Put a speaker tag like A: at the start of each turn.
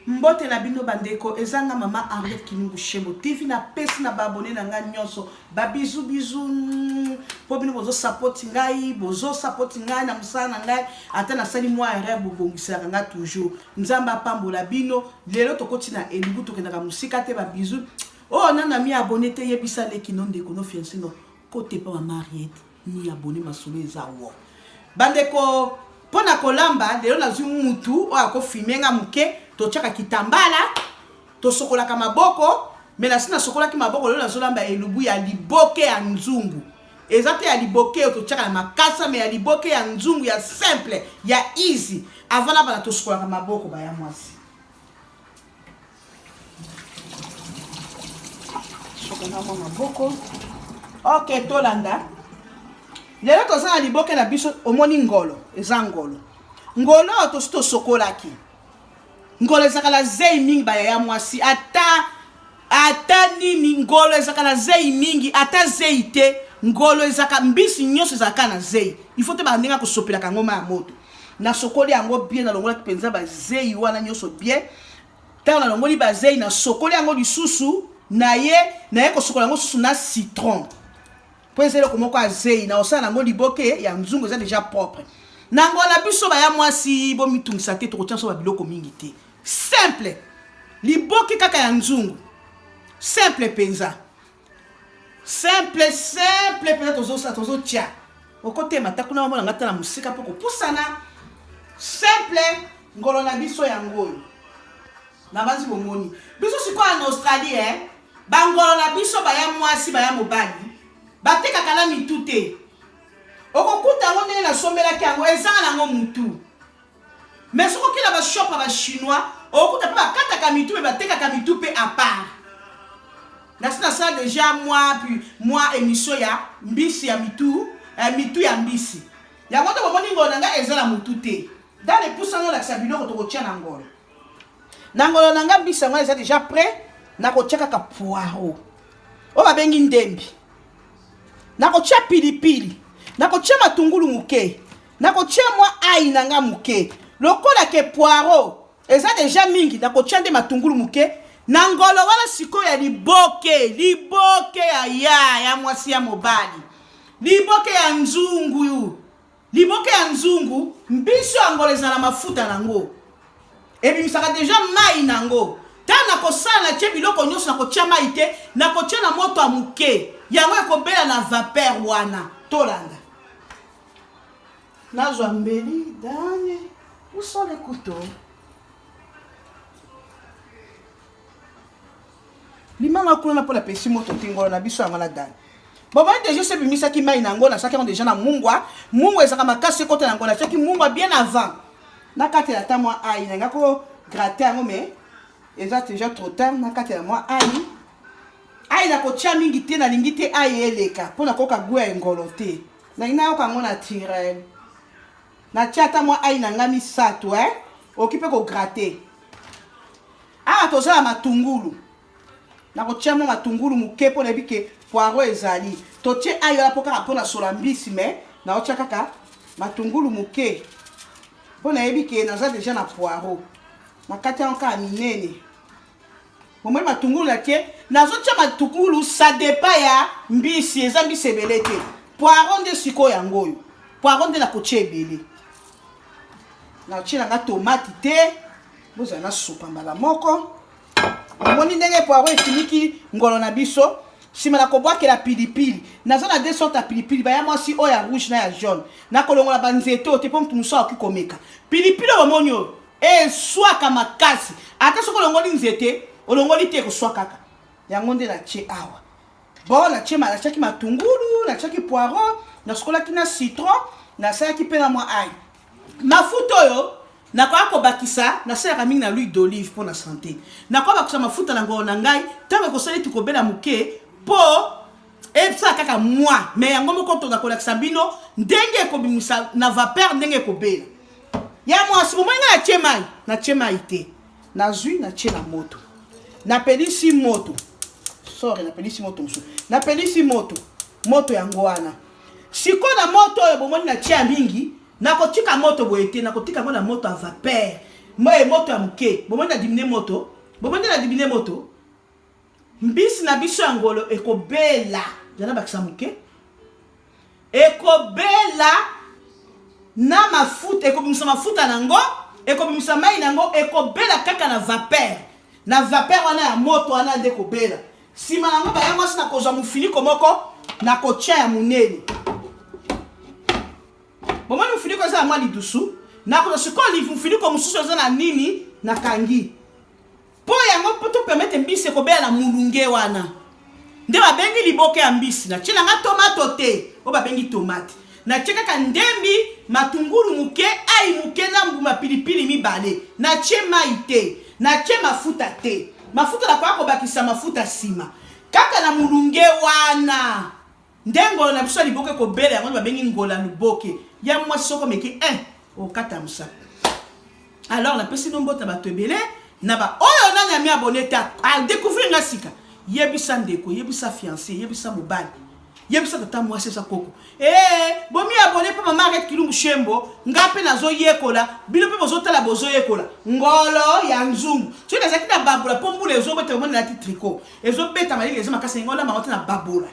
A: mbote na bino bandeko eza nga mama henriette kinungu shembo tv napesi na baabone na ngai nyonso babizu bizu mpo mm, bino bozosapoti ngai bozosapoti ngai na mosala na ngai ata nasali mwa erreur bobongiselaka ngai toujours nzambe apambola bino lelo tokoti na elubu tokendaka mosika te babizu oyo oh, nana mi abone te yebisa leki no ndeko no fiancino Cote epa mama Henriette ni abonne masolo eza woo. Bandeko mpo na kolamba lelo nazwi mutu oyo akofilme nga moke totyaka kitambala tosokolaka maboko me nasi nasokolaki maboko lelo nazolamba elubu ya liboke ya nzungu eza te ya liboke oyo totyaka na makasa me ya liboke ya nzungu ya simple ya easy avant nabana tosokolaka maboko baya mwasi na mwa maboko ok tolanda lelo toza na liboke na biso omoni ngolo eza ngolo ngolo oyo tosi tosokolaki ngolo ezalaka na zei mingi bayaya mwasi ata ata nini ngolo ezalaka na zei mingi ata zei te ngolo ezalaka mbisi nyonso ezalaka na zei ifo te bandenge akosopelaka yango ma ya moto nasokoli yango bien nalongolaki mpenza bazei wana nyonso bien Tango na longoli ba zeyi na sokoli yango lisusu na ye na ye kosokola yango susu na citron po eza eloko moko ya zeyi na osala nango liboke ya nzungu eza deja propre na ngo na biso baya mwasi bomitungisa te tokotia so ba biloko mingi te simple liboke kaka ya nzungu simple penza simple simple mpenza tozosa tozotya okotema ata kuna bamona ngai ata na mosika mpo kopusana simple ngolo na biso yango oyo nabanzi bomoni biso sikoyo na australie eh? bangolo na biso baya mwasi baya mobali batekaka na mitu te okokuta yango ndenge nasombelaki yango ezanga nango motu Mais soki okenda ba shop ya ba chinois okokuta pe bakataka mitu pe batekaka mitu pe à part. Nasi nasala deja mwa pi mwa emission ya mbisi ya mitu eh, mitu ya mbisi. Yango nde bomoni ngolo na ngai eza na mutu te. Dans les pouces nazolakisa biloko tokotia na ngolo. Na ngolo na ngai mbisi yango eza deja prêt, nakotia kaka poireau. Oyo babengi ndembi. Nakotia pilipili. Nakotia matungulu moke. Nakotia mwa ayi na nga moke lokola ke poiro eza deja mingi, nakotia nde matungulu moke na ngolo wana sikoyo ya liboke, liboke ya ya ya mwasi ya mobali, liboke ya nzungu, liboke ya nzungu, mbiso ya ngolo ezala mafuta nango ebimisaka deja mai nango ntango nakosala na tie biloko nyonso nakotia mai te nakotia na moto ya moke yango ekobela na vapeur wana tolanda nazwa mbeli dani usole kuto limanga kuna na mpo na pesi moto tingolo na biso yango na dani bomoni deja esi ebimisaki mai na yango natyaki yango deja na mungwa mungwa ezalaka makasi ekota na yango natyaki mungwa bien avant na kati ya ta mwa ai nanga ko grate yango mais eza deja trop tard na kati ya mwa ai ai nakotya mingi te nalingi te ai eleka mpo nakoka gwe ya engolo te Nalingi nayoka yango naturel. Natia ata mwa ai na nga misato eh. Oki mpe kograte. Awa toza na matungulu. Nakotia mwa matungulu moke mpo nayebi ke poiro ezali. Totie ai wana mpo kaka mpo na sola mbisi me naotia kaka matungulu moke mpo nayebi ke naza deja na poiro. Nakati yango kaka minene. bomoi matungulu na tie nazotia matungulu sadepa ya mbisi eza mbisi ebele te poiron nde sikoyo yango oyo poiron nde nakotia ebele natie nanga tomati te bozala na supa mbala moko omoni ndenge poiron esiliki ngolo na biso nsima na kobwakela pilipili naza na de sorte ya pilipili baya mwasi oyo ya rouge na ya jaune nakolongola banzete oyo te mpo moto mosusu akoki komeka pilipili oyo bomoni oyo Eswaka makasi. Ata soki olongoli nzete, olongoli te ekoswa kaka. Yango nde natie awa. Bon, natie ma natiaki matungulu, natiaki poireau, nasukolaki na citron, nasalaki mpe na mwa ail. Mafuta oyo nakoya kobakisa nasalaka mingi na l'huile d'olive mpo na sante nakoya bakisa mafuta na ngolo na ngai ntango ekosala eti kobela moke mpo Epsa kaka mua mais yango moko toza kolakisa bino ndenge ekobimisa na vapeur ndenge ekobela ya mwasi bomoi ngai natie mai natie mai te nazwi natie na moto napelisi moto sore napelisi moto mosusu napelisi moto moto yango wana sikoyo na moto oyo bomoni natie ya mingi nakotika moto boye te nakotika yango na moto ya vapeur moye moto ya moke bomoni na dimine moto bomoni na dimine moto Mbisi na biso ya ngolo ekobela, zala bakisa moke, ekobela na mafuta, ekobimisa mafuta na yango, ekobimisa mai na yango, ekobela kaka na vapeur, na vapeur wana ya moto wana nde ekobela. Nsima na yango baya mwasi na kozwa mofiniko moko na kotya ya monene. Bomoni mofiniko eza ya mwa lidusu, nakozwa sikoyo mofiniko mosusu eza na nini nakangi Mpo yango, mpo to permettre mbisi ekobela na mulunge wana nde babengi liboke ya mbisi. Natie na nga tomato te, oyo babengi tomate. Natie kaka ndembi, matungulu moke, ai moke na mbuma pilipili mibale. Natie mai te, natie mafuta te. Mafuta nakoya kobakisa mafuta nsima. Kaka na mulunge wana Nde ngolo na biso ya liboke kobela yango babengi ngola luboke ya mwasi soko meki eh okata mosaka alors napesi no mbota bato ebele na baoyo oh, nani ami abone te adecouvrir nga sika yebisa ndeko yebisa fiancé yebisa mobali yebisa tata mwasi eza koko ee eh, bomi abone mpe mama aret kilungu shembo nga mpe nazoyekola bino mpe bozotala bozoyekola ngolo ya nzungu soki nazalaki na babola mpo mbula ezobeta omoni nalati tricot ezobeta malili eza makasi yango olamba yango te na babola